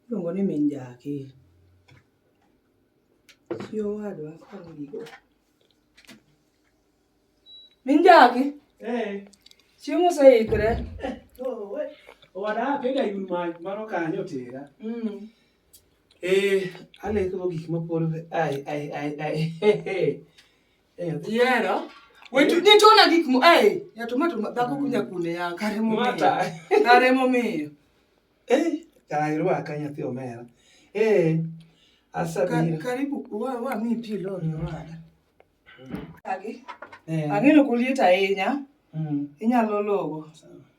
Iluongo ni min jaki. Chi owadwa koni gigo. Min jaki. Eh. Chiemo oseikre. Eh, Owada pega yun mach mano kanyo tera. Mm. Eh, aleko gik mapolo. Ai, ai, ai, ai. Eh, yera. Wetu eh. nitona gik mo eh ya tomato dhako kunya kune ya kare mo mata. Kare mo miyo. Eh, kare wa kanya thio mera. Eh, asa bira. Karibu wa wa mi pi lo ni wa. Kage. Eh. Angelo kulieta enya. Mm. Inyalo logo. Sawa.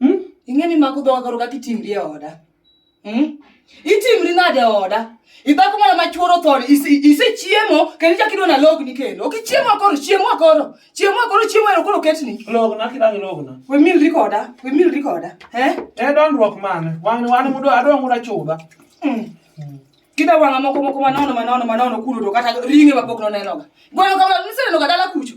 Hmm? Ing'e ni mako dhoga koro kaka itimri e oda. Hmm? Itimri nade e oda? Idhako mana ma chuoro thon, isechiemo kendo ichak idwa nalogni kendo. Ok ichiemo akoro, chiemo akoro. Chiemo akoro, chiemo ero koro ketni. Logna kidagi logna. We milri koda, we milri koda. Eh? E dondruok mane? Wan wan mudo adwa ngura chuda. Hmm. hmm. Kida wanga moko moko manono manono manono kulo to kata ringe mapok nonenoga. Goyo kamano nisenenoga dala kucho.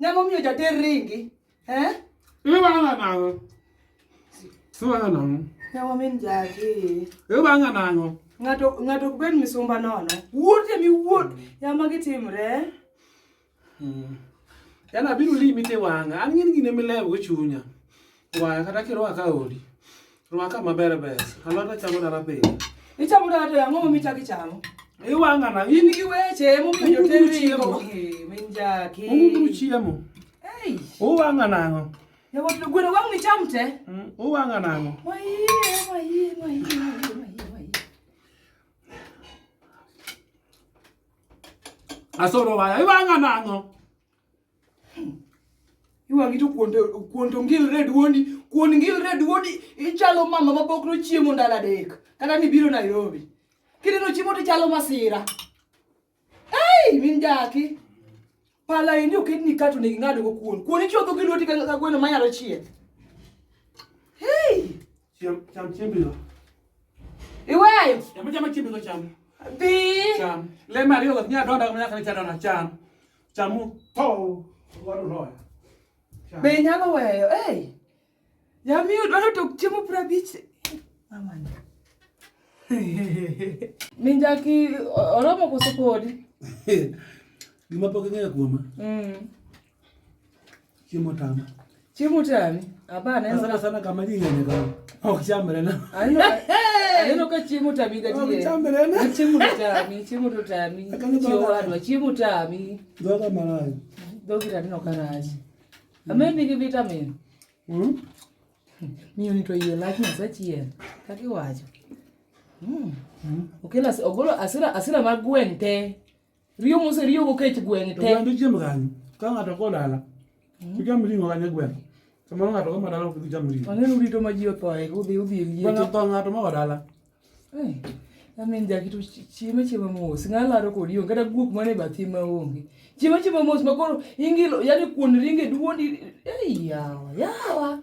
Ng'ama omiyo jater ringi? Eh? Iwang'a nang'o? Iwang'a nang'o? Yawa min jagi. Iwang'a nang'o? Ng'ato ng'ato ok bed misumba nono. Wuot emi wuot. Yama gitimre. Hmm. Yana biro limi te wang'a. An ng'in gine milewo chunya. Waya kata kirwaka odi. Rwaka maber ber. Alot achamo dala pile. Ichamo dala to ang'o momi chak ichamo? Iwang'a na. In gi weche momiyo jotedo chiemo. Minjaki. Unguru chiemo. Ei. Uwang'a nang'o? Yawuot to gweno wang' ni cham te. Mm, uwang'a nang'o? Wayie, wayie, wayie, wayie, wayie. Asoro waya. Iwang'a nang'o? iwang'i to kuon to ngilre duondi kuon ngilre duondi ichalo mama ma pok nochiemo ndalo adek kata ni biro nairobi kineno chiemo to ichalo masira ei min jaki pala endi oketni kato nigi ng'adogo kuon kuon ichodho gi lweti ka gweno manyalo chieth ei cham chiembino iweyo cham chiembino cham dhi cham le mariyo nyadonda nyaka ni chadona cham Chamu tho wadu loya. Be nyalo weyo. Hey. Yami udwaro to chiemo pra bich. Amani. Minjaki oromo koso podi. Gima pok ing'eyo kuoma. Mm. Chiemo tama. Chiemo tami. Abana eno. Sana sana kama jinga ni kama. Au kichambere na. Aneno ka chiemo tami gati. Au kichambere na. Chiemo tami, chiemo to tami. Chiemo wadwa, chiemo tami. Doga malai. Dogi tani no karaji. Amendi gi vitamin. Mhm. Miyo ni to yie lach na sachien. Kaki wacho. Mhm. Okela ogolo asira asira magwente. Riyo mose riyo go kech gweng' te. Oganda chiem kanyo. Ka ng'ato ko dala. Hmm. Icham ring'o kanyo e gweng'. Samoro ng'ato ko madala ok dhi cham ring'o. Ang'e rito ma ji othoe udhi udhi e liete. Bang' tho ng'ato ma dala. Eh. Amin jakitu chieme chiemo mos. Ng'alaro kodi onge kata guok mane bathi ma onge. Chiemo chiemo mos makoro ingilo yani kuon ringe duondi. Eh yawa yawa.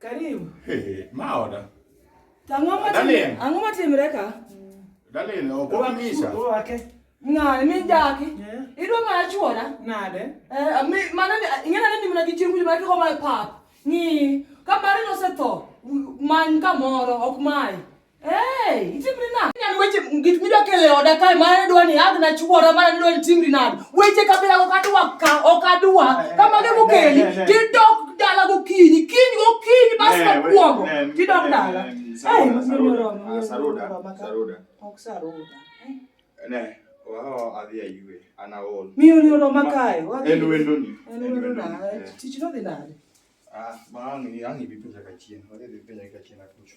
Karibu. Hey, maoda. Tang'o matimre. Ang'o matimre ka? Dalin, ok omisa. Orwake. Ng'ani min jaki. Idwa ng'a chuora? Nade? Eh, mi mana ni ing'ena ni nimna gi chiengu ma kiko mai pap. Ni ka mari no se tho. Man kamoro ok mai. Hey, itimri nade? Nyan weche gik midwa kelo e oda kae mane dwa ni adhi nachuora mane dwa ni timri nade? Weche kabila ok adwa ka ok adwa. Kama ge mokeli tidok dala gokinyi, kiny gokinyi bas ka kuogo. Tidok dala. Hey, saruda, saruda. Saruda. Ok saruda. Ne, wao adhi ayue, ana ol. Mi uli oro makae. En wendo ni. En wendo na. Tich no dhi nade? Ah, ma angi angi bipenja kachien. Wadhi bipenja kachien akucho.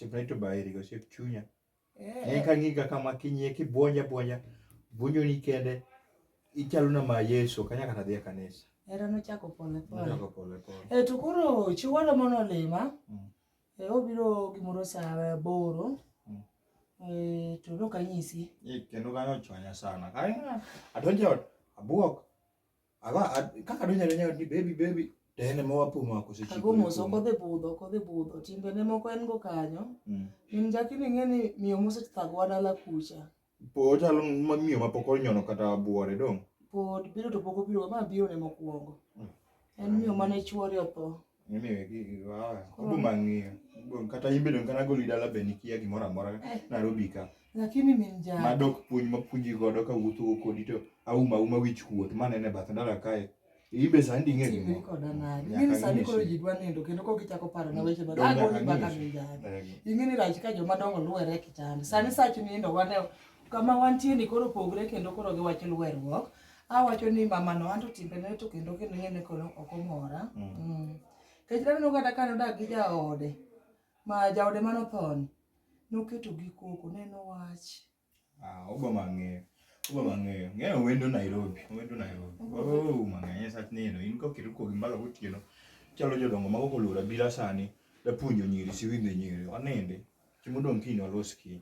Chimney to buy it, go ship chunya. En ka ng'iga kama kinye kibwonja bwonja bunyo ni kende ichalo na ma Yesu kanya kata dhie kanisa. Era no chako pole pole. Chako pole pole. E to koro chiwalo mono lima. Mm. E obiro gimoro sa boro. Mm. E to no kanyisi. E kendo kanyo chwanya sana. Kaya adonjo abwok. Aba kaka donyo donyo ni baby baby to en ema wapo mako seche. Ago mos ok odhi budho, ok odhi budho. Timbe ne moko en go kanyo. Mm. Min jaki ni ng'e ni miyo mose thagwa dala kucha. Po chalo ma miyo ma pok onyono kata buore dong. Pod biro to pok obiro ma biro ne mokwongo. Mm. En miyo mane chuore otho. lakini min jal madok puonj mapuonji godo ka wuotho kodi to auma uma wich kuot manene bath ndara kae ibe sandi ng'e ni koda nani mimi sandi koro ji dwa nindo kendo kok ichako paro na weche bado ago ni baka min jal ing'e ni rach ka joma dongo luwere kitanda sani sach nindo wane kama wantie ni koro pogre kendo koro giwacho luwerruok awacho ni mama no anto timbe ne to kendo kendo ngene kono ok omora mm. mm. kech dano kata kano dak gi jaode ma jaode mano thoni noketo gi koko neno wach ah obo mang'eyo obo mang'eyo ng'eyo wendo Nairobi wendo Nairobi oh mang'eyo sat neno in ko kiruko gi mbalo gotieno chalo jodongo mago kolura bila sani da punjo nyiri si winde nyiri wanende chimodong kino loski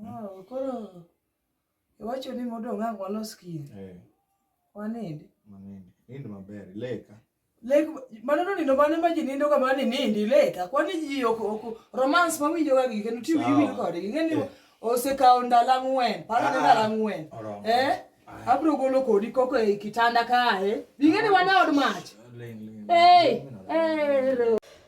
oh koro Iwacho ni modong' ang' walos kiny. Eh. Wanindi. Wanindi. Nind maber, leka. Lek mano no nindo mane ma ji nindo ga mani nindi leka. Kwani ji ok ok romance ma winjo ga gike no tiwi winjo kode. Ing'e ni eh. osekawo ndalo ang'wen, paro ni ah, ndalo ang'wen. Eh? Ah. Abro golo kodi koko e kitanda kae. Ing'e ni wana od mach. Eh. Eh.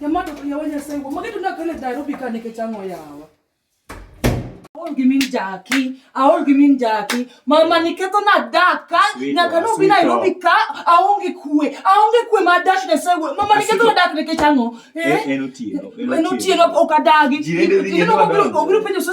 Yamata yawa nyasaye wo mageto na kale daro bika ne kechango yawa. Aol gi min jaki, aol gi min jaki. Mama ni keto na daka, na kano bina ilo bika, aonge kue, aonge kue ma dash ne sewe. Mama ni keto na daka ne kechango. Eh, eh, eh, no tiyo, eh, no tiyo, no kadagi. Jirende zinyo, no kadagi. Obiru penyo so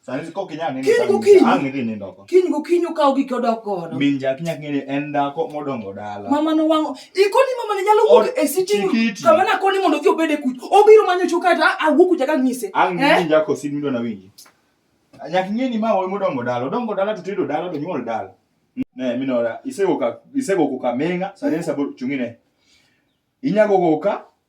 Sani kok inyal nini Kiny gokinyi. ang' idhi nindo oko. Kiny gokinyi okaw gik odok godo. Min jaki nyaka ng'e ni en dhako modongo dala. Mama no wango. Ikoni mama ne nyalo wuok e sitting room. Chikiti. Kama na koni mondo odhi obede kuch. Obiro manyo chuka ta awuok kucha ka ng'ise. Ang' Eh? min jako sin midwa na winji. Nyaka ng'e ni ma wuoyi modongo dala, odongo dala to tedo dala to nyuol dala. Ne minora isego ka isego kuka menga sani sabur chungine. Inyago kuka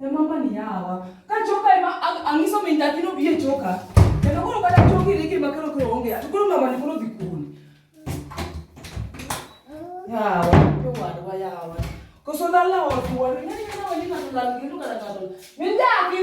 E mama ni yawa. Ka choka ema ang'iso min nyathi no biye choka. Kendo koro kata choki riki ma kero kero onge. To koro mama ni koro dhi kuni. Yawa, to wadwa yawa. Koso lala wa kuwa. Ni ni na wali na lala ngilu kana kana. Min nyathi.